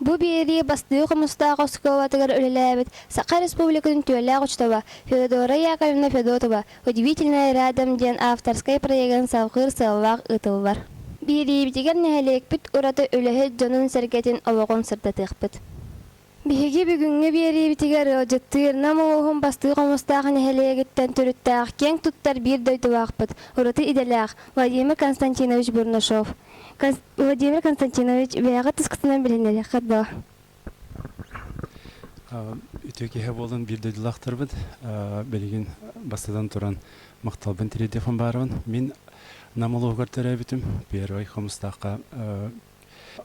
Бу биэрии бастыҥ хомустаах оскуолатыгар үлэлээбит Саха Республикатын түөлээх учуутала Феодора Яковлевна Федотова «Удивительная рядом» диэн авторскай проегын салҕыыр сыаллаах ыытыллар. Биэриибитигэр нэһилиэкпит ураты үлэһит дьонун-сэргэтин олоҕун сырдатыахпыт. Биһиги бүгүҥҥү биэриибитигэр ыалдьыттыыр Нам улууһун бастыҥ хомустаах нэһилиэгиттэн төрүттээх киэҥ туттар биир дойдулаахпыт, ураты идэлээх Владимир Константинович Бурнашов Владимир Константинович, бэйэҕит тускутунан билинэриэххит дуо? Үтүө киһи буолан биир дойдулаахтарбыт билигин бастатан туран махталбын тириэрдиэхпин баарбын мин Нам улууһугар төрөөбүтүм Первый Хомустаахха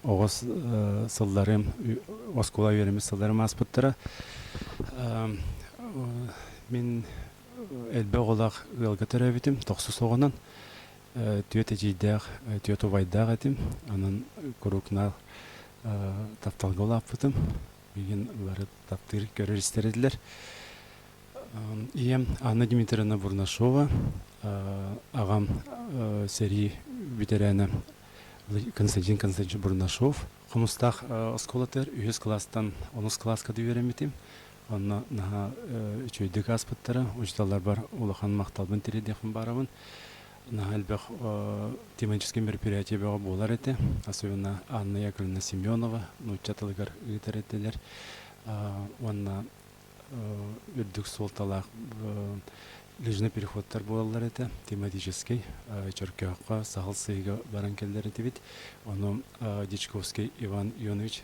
оҕус сылларым оскуола үөрэммит сылларым ааспыттара мин элбэх оҕолоох ыалга төрөөбүтүм тохсус оҕонон Түөт эдьиийдээх, түөт убайдаах этим. Онон куруукнаах тапталга улааппытым. Билигин бары таптыыр, көрөр-истэр этилэр. Ийэм Анна Дмитриевна Бурнашова, аҕам сэрии бүтэрээнэ Константин Константинович Бурнашов. Хомустаах оскуолатыгар үһүс класстан онус кылааска да үөрэммитим. Онно наһаа үчүгэйдик ааспыттара. Учууталларбар улахан махталбын тириэрдиэхпин баарабын. Наһаа элбэх тематическай мероприятие бөҕө буолар этэ. Особенно Анна Яковлевна Семенова нуучча тылыгар ыытар этилэр. Уонна үрдүк суолталаах лыжный переходтар буолаллар этэ. Тематическай Чөркөөххө саһыл сыыга баран кэллэр этибит. Ону Дьячковский Иван Ионович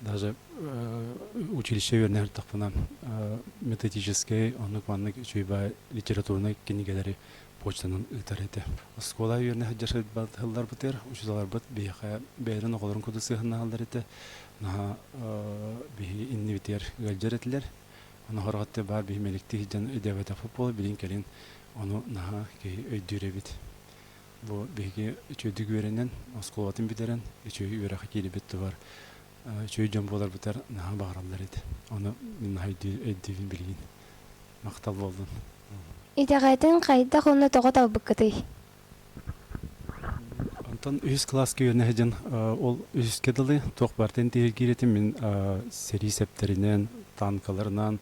даже училище үөрэнээхтахпына методическай оннук маннык үчүгэй литературнай кинигэлэри почтанан ыытар этэ оскуола үөрэнэ сылларбытыгар учууталларбыт биһиэхэ бэйэлэрин оҕолорун кытта сыһыаннаһаллар этэ наһаа биһи иннибитигэр ыалдьар этилэр ону хорҕоттуу баар биһи мэликтик сылдьан өйдөөбөтөхпүт буолла билин кэлин ону наһаа киһи өйдүүр эбит Бу биһиги үчүгэйдик үөрэнэн, оскуолатын бүтэрэн, үчүгэй үөрэххэ киирбит тубар үчүгэй дьон буоларбытыгар наһаа баҕараллар эт. Ону мин наһаа өйдүүбүн билигин. Махтал буоллун. Итэҕэтин хайдах уонна тоҕо талбыккытый? Онтон үһүс кылааска үөрэнэ сылдьан ол үһүскэ дылы туох бартын тиһиргиир этим мин сэрии сэптэринэн, танкаларынан,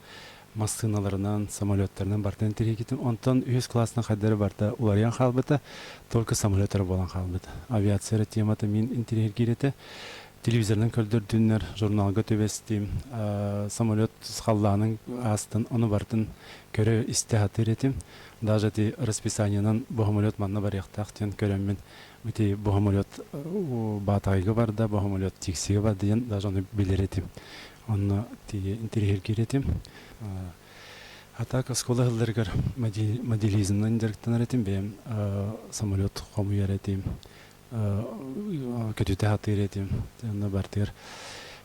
массыыналарынан, самолеттарынан бартан тириэкитин, онтон үһүс класснан хайдары барта уларыйан хаалбыта, только самолеттар буолан хаалбыт. Авиация эрэ темата мин интириэһиргиир этэ. Телевизорынан көрдөрдүннэр, журналга түбэстим, самолет халлаанын аастын, ону бартын көрө-истэ сатыыр этим. Даже ити расписаниенан бу самолет манна барыахтаах диэн көрөммүн, ити бу самолет Баатаайга барда, бу самолет Тиксигэ барда диэн даже ону билэр этим. Онно тириһиргиир этим. Атака оскуола сылларыгар моделизмнан дьарыктанар этим. Бэйэм самолет хомуйар этим. Көтүтэ сатыыр этим. Онно бартыгар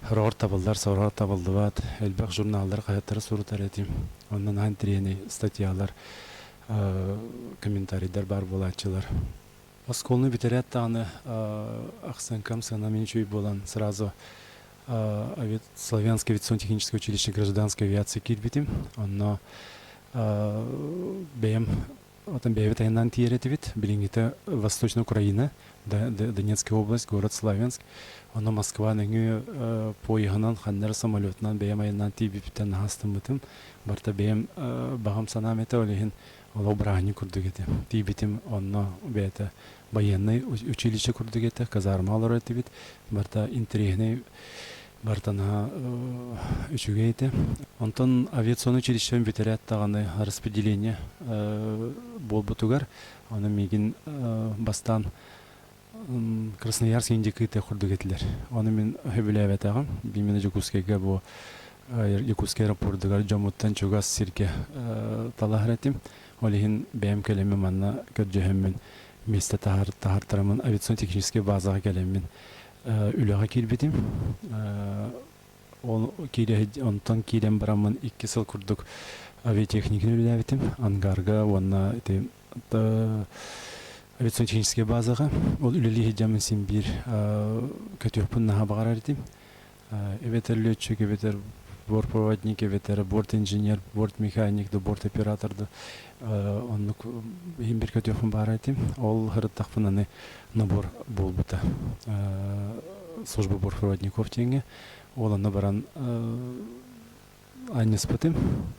сороҕор табыллар, сороҕор табыллыбат. Элбэх журналлар хаһыаттары сурутар этим. Онон аан тириэнэй статьялар, комментарийдар баар буолааччылар. Оскуоланы бүтэрээт даҕаны ахсаҥкам сыана мин үчүгэй буолан сразу Славянское авиационно-техническое училище гражданской авиации киирбитим. Онно бэйэм отон бэйэбит айаннаан тиийэр этибит. Билиҥҥитэ Восточная Украина, Донецкая область, город Славянск. Ону Москва нөҥүө поеһынан, ханнары самолетунан бэйэм айаннаан тиийбиптэн наһаастаммытым. Барыта бэйэм баҕам санаам этэ, ол иһин Олох бырааһынньык курдук этэ. Тиийбитим, онно бэйэтэ байыаннай училище курдук этэ, казарма олорор этибит. Барыта интэриэһинэй, барыта наһаа үчүгэй этэ. Онтон авиационнай училищем бүтэрээт даҕаны распределение буолбутугар, ону миигин бастаан Красноярск индикыты курдук этилэр. Ону мин сөбүлээбэтэҕим. Бимина Дьокуускайга бу Якутскай аэропордугар дьоммуттан чугас сиргэ талаһар этим. Ол иһин бэйэм кэлэммин манна көрдөһөммүн, миэстэ таһартараммын, авиационно-техническэй базаҕа кэлэммин үлэҕэ киирбитим. Ол киирэ онтон киирэн бараммын икки сыл курдук авиатехниканы үлэлээбитим. Ангарга уонна ити авиационно-техническэй базаҕа ол үлэлии сылдьаммын син биир көтүөхпүн наһаа баҕарар этим эбэтэр летчик эбэтэр бортпроводник эбэтэр борт инженер борт механик да борт оператор да оннук иһин бир көтүөхпүн баара этим ол сырыттахпын аны набор буолбута служба бортпроводников диэҥҥэ ол онно баран анньыспытым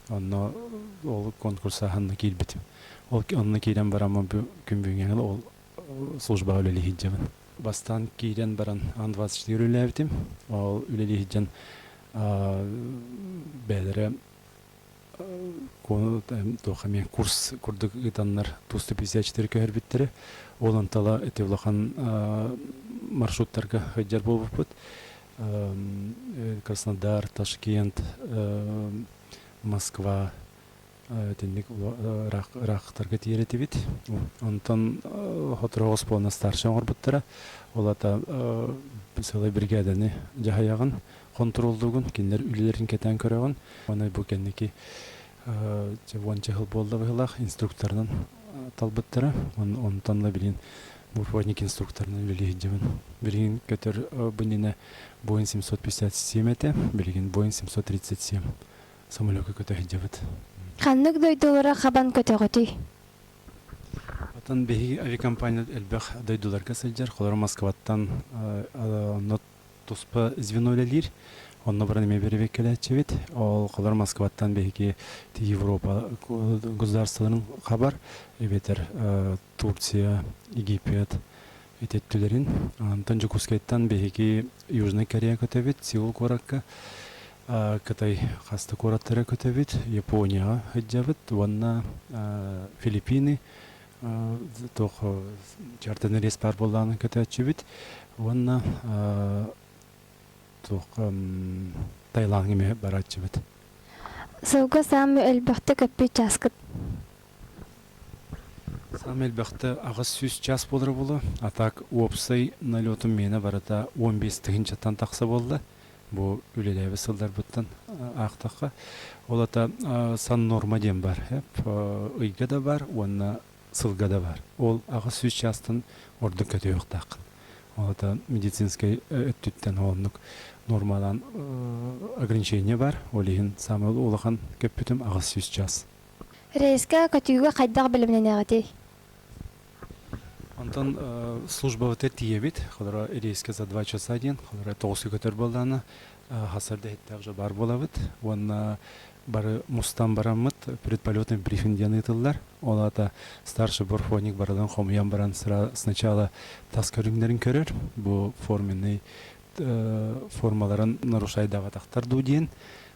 онно ол конкурсааһынна киирбитим ол онно киирэн бараммын күн бүгүҥҥэҥин ол службаҕа үлэлиир сылдьабын бастаан киирэн баран ан двадцать четыре үлэлээбитим ол үлэлии сылдьан бэйэлэрэ туох эмиэ курс курдук ыытаннар тусто пятьдесят четыре көһөрбүттэрэ ол амтала эти улахан маршруттарга сылдьар буолбуппут Краснодар, Ташкент, Москва итинник ыраахтарга тиийэр этибит. Онтон Хотору Оспуона старший оҥорбуттара. Ол ата сылай бригаданы дьаһайаҕын, хонтуруоллуугун, кинилэр үлэлэрин кэтээн көрөҕүн. Онон бу кэнники уонча сыл буолла быһылаах инструкторынан талбыттара. Онтон да билин Муравьевник инструкторынан үлэлии сылдьабын. Билигин көтөр бу иннинэ Боинг семьсот пятьдесят семь этэ, билигин Боинг семьсот тридцать семь самолёкка көтө сылдьабыт. Ханнык дойдулара хабан көтөҕүтүй? Оттон биһиги авиакомпания элбэх дойдуларга сылдьар. Холоро Москваттан онно туспа звено үлэлиир. Онно баран эмиэ бэрэбиэркэлээччибит. Ол холоро Москваттан биһиги Европа государстволарын хабар эбэтэр Турция, Египет этиттилэрин. Антон Дьокуускайтан биһиги Южнай Корея көтөбүт, Сеул куоракка, Кытай хас да куораттара көтөбүт, Японияҕа сылдьабыт уонна Филиппины туох Чартаны рейс баар буоллаҕына көтөөччүбүт уонна туох Таилаҥҥа эмиэ барааччыбыт. Сылга саамы элбэхтэ көппүт чааскыт? Саамай элбэхтэ аҕыс сүүс чаас буолара буолуо. А так уопсай налетум миэнэ барыта он биэс тыһыынчаттан тахса буолла. Бу үлэлээбит сылларбыттан аахтахха. Ол ата сан норма диэн баар ыйга да баар уонна сылга да баар. Ол аҕыс сүүс чаастан ордук көтүһүөхтааххын. Ол ата медицинскэй өттүттэн оннук нормалаан ограничение бар. Ол иһин саамай улахан көппүтүм аҕыс сүүс чаас. Рейскэ көтүүгэ хайдах бэлэмнэнэҕитий? Онтон службабытыгар тиийэбит. Холоро рейскэ за два часа диэн. Холоро тоҕустуу көтөр буоллаҕына хассардаһыттаах дьабаар буолабыт. Уонна бары мустан бараммыт предполетный брифинг диэн ыытыллар. Ол аата старший борфоник барылын хомуйан баран сначала тас көрүҥнэрин көрөр. Бу форменный формаларын нарушайдабатахтар дуу диэн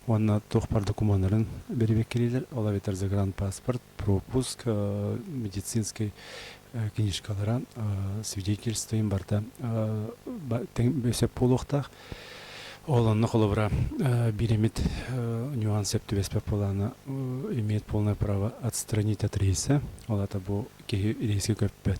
уонна туох бар докумуоннарын беребеккилилер ол эбитер загранпаспорт пропуск медицинский книжкалара свидетельствоин барда сөп буолуохтаах ол онно холобура биремит нюанс септубеспер плана имеет полное право отстранить от рейса ол ата бу киһи рейске көппөт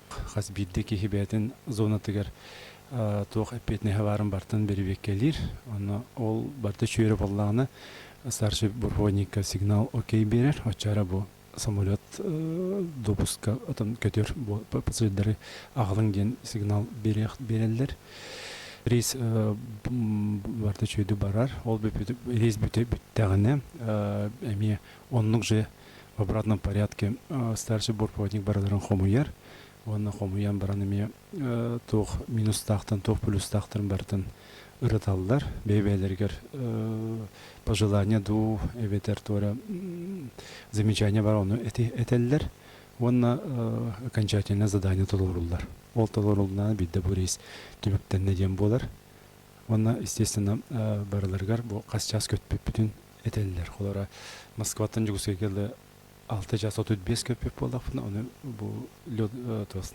хас биирдии киһи бэйэтин зонатыгар туох эппиэтинэһэ баарын бартан бэрибиэккэлиир. Онно ол барда үчүгүрэ буоллаҕына старший полковникка сигнал окей берер, оччара бу самолет допуска отон көтөр пассажирдары аҕалыҥ диэн сигнал берэллэр. Рейс барда үчүгүрэ барар. Ол рейс бүттэҕинэ эмиэ оннук же в обратном порядке старший борпроводник барыларын хомуйар уонна хомуйан баран эмиэ туох минустаахтан туох плюстаахтарын барытын ырыталлар бэйэ-бэйэлэригэр пожелание дуу эбэтэр туора замечание бар ону этэллэр уонна окончательное задание толоруллар ол толорулунана бидде бу рейс түмүктэннэ диэн буолар уонна естественно барыларыгар бу хас час көтпүппүтүн этэллэр. Холоро Москваттан Дьокуускайга да алта час отут без көппүк буоллахпына, оны бу лед,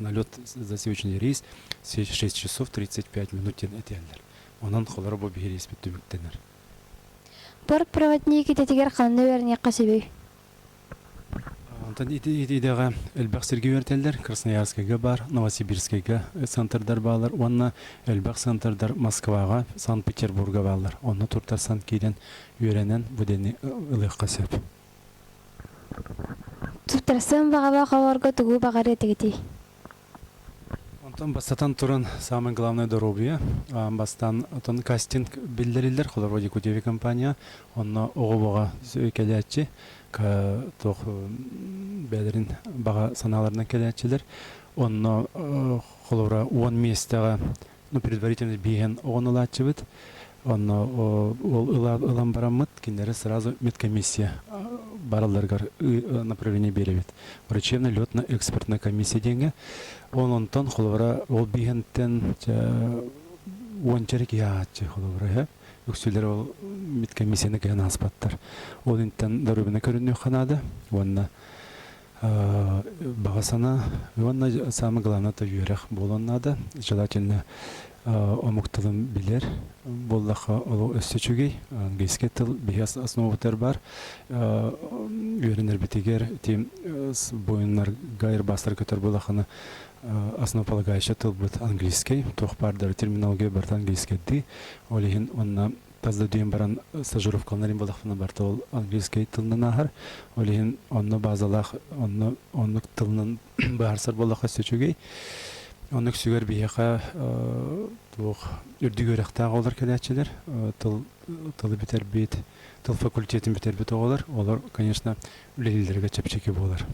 налет засечный рейс шесть часов тридцать пять минут диэн этиэллэр. Онон холоро бу биһириэспит түмүктэнэр. Пор проводник идэтигэр ханна үөрниэххэ сөбүй? Онтон ити идэҕэ элбэх сиргэ үөрэтэллэр. Красноярскайга баар, Новосибирскайга центрдар баалар уонна элбэх центрдар Москваҕа, Санкт-Петербурга бааллар. Онно туртарсан киирэн үөрэнэн бу дэни ылыахха сөп. Туттарсан баҕалаах оҕолорго тугу баҕарыа этигитий? Онтон бастатан туран, самое главное доруобуйа. Бастаан отон кастинг биллэриллэр холобура Якутия компания. Онно оҕо баҕа кэлээччи, туох бэйэлэрин баҕа санааларынан кэлээччилэр. Онно холобура уон миэстэҕэ ну, предварительно биһэн оҕон ылааччыбыт. Онно ол ылан бараммыт, кинилэри сразу медкомиссия баралларыгар направление биэрэбит. Врачебно летно-экспертная комиссия диэҥҥэ. Он онтон холобура ол биһэнтэн уончарык яаччы холобура эһэ үксүлэр ол медкомиссияны кыһан ааспаттар. Ол интен доруобуна көрүннүөх ханаада уонна Баҕа санаа уонна самое главное это үөрэх буолуон наада. Желательно омук тылын билэр буоллахха ол өссө үчүгэй. Английский тыл биһиэс основатыгар бар. Үөрэнэрбитигэр тим буойуннарга айырбастар көтөр буоллаххына основополагающая тылбыт английский. Туох баар да терминология барыта английскийдии. Ол иһин онна тас дойдуйан баран стажировка алынарым буоллахпына барыта ол английскай тылынан ааһар ол иһин онно баазалаах онно оннук тылынан быһаарсар буоллахха өссө үчүгэй оннук сүгэр биһиэхэ туох үрдүк үөрэхтээх оҕолор кэлээччилэр тыл тылы бүтэрбит тыл факультетин бүтэрбит оҕолор олор конечно үлэлииллэргэ чэпчэки буолар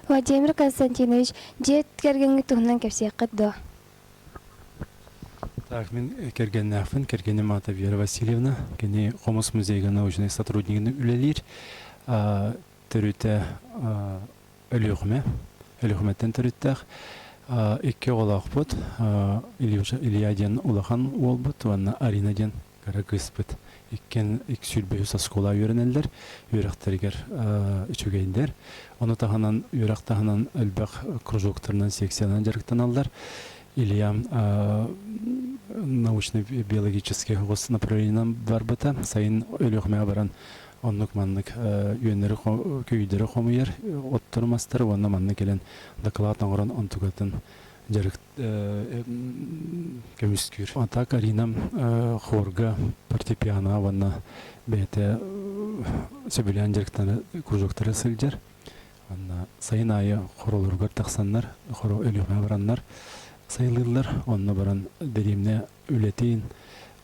Владимир Константинович дьиэ кэргэҥҥит туһунан кэпсиэххит дуо Так, мин кэргэннээхпин, кэргэним аата Вера Васильевна. Кини Хомус музейга научнай сотруднигынан үлэлиир. Төрүтэ Өлүөхүмэ, Өлүөхүмэттэн төрүттээх. Икки оҕолоохпут, Илья диэн улахан уолбут уонна Арина диэн кыра кыыспыт иккиэн икки сүүрбэ үс оскуола үөрэнэллэр, үөрэхтэригэр үчүгэйдэр. Ону таһынан үөрэх таһынан элбэх кружоктарынан, секциянан дьарыктаналлар. Илья научно-биологическай оҕус направлениенан барбыта. Сайын Өлүөхүмэҕэ баран оннук-маннык үөннэри, көйүүдэри хомуйар, оттору-мастары уонна манна кэлэн дакылаат оҥорон онтукатын дьарык көмүскүүр. Онта Карина хорга фортепиано уонна бэйэтэ сөбүлээн кружоктары сылдьар. Анна сайын аайы хоролоругар тахсаннар, хоро өлүөхэ бараннар сайылыыллар. Онно баран дэриэмнэ үлэтин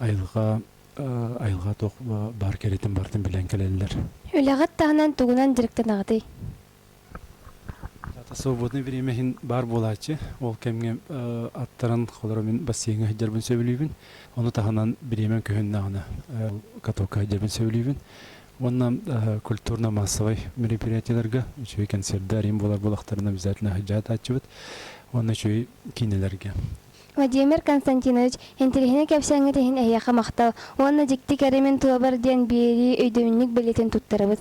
айылҕа айылҕа туох баар кэрэтин бартын билэн кэлэллэр. Үлэҕит таһынан тугунан дьарыктанаҕытый? Аата свободное время иһин баар буолааччы. Ол кэмҥэ аттаран холоро мин бассейҥҥа сылдьарбын сөбүлүүбүн. Ону таһынан бириэмэм көһүннэҕинэ катокка сылдьарбын сөбүлүүбүн. Уонна культурно-массовай мероприятиеларга үчүгэй концердэр арыйан буолар буолахтарына обязательно сылдьа сатааччыбыт. Уонна үчүгэй киинэлэргэ. Владимир Константинович, интэриэһинэй кэпсээҥҥит иһин эһиэхэ махтал уонна дьикти кэримин туолар диэн биэрии өйдөбүнньүк бэлиэтин туттарабыт.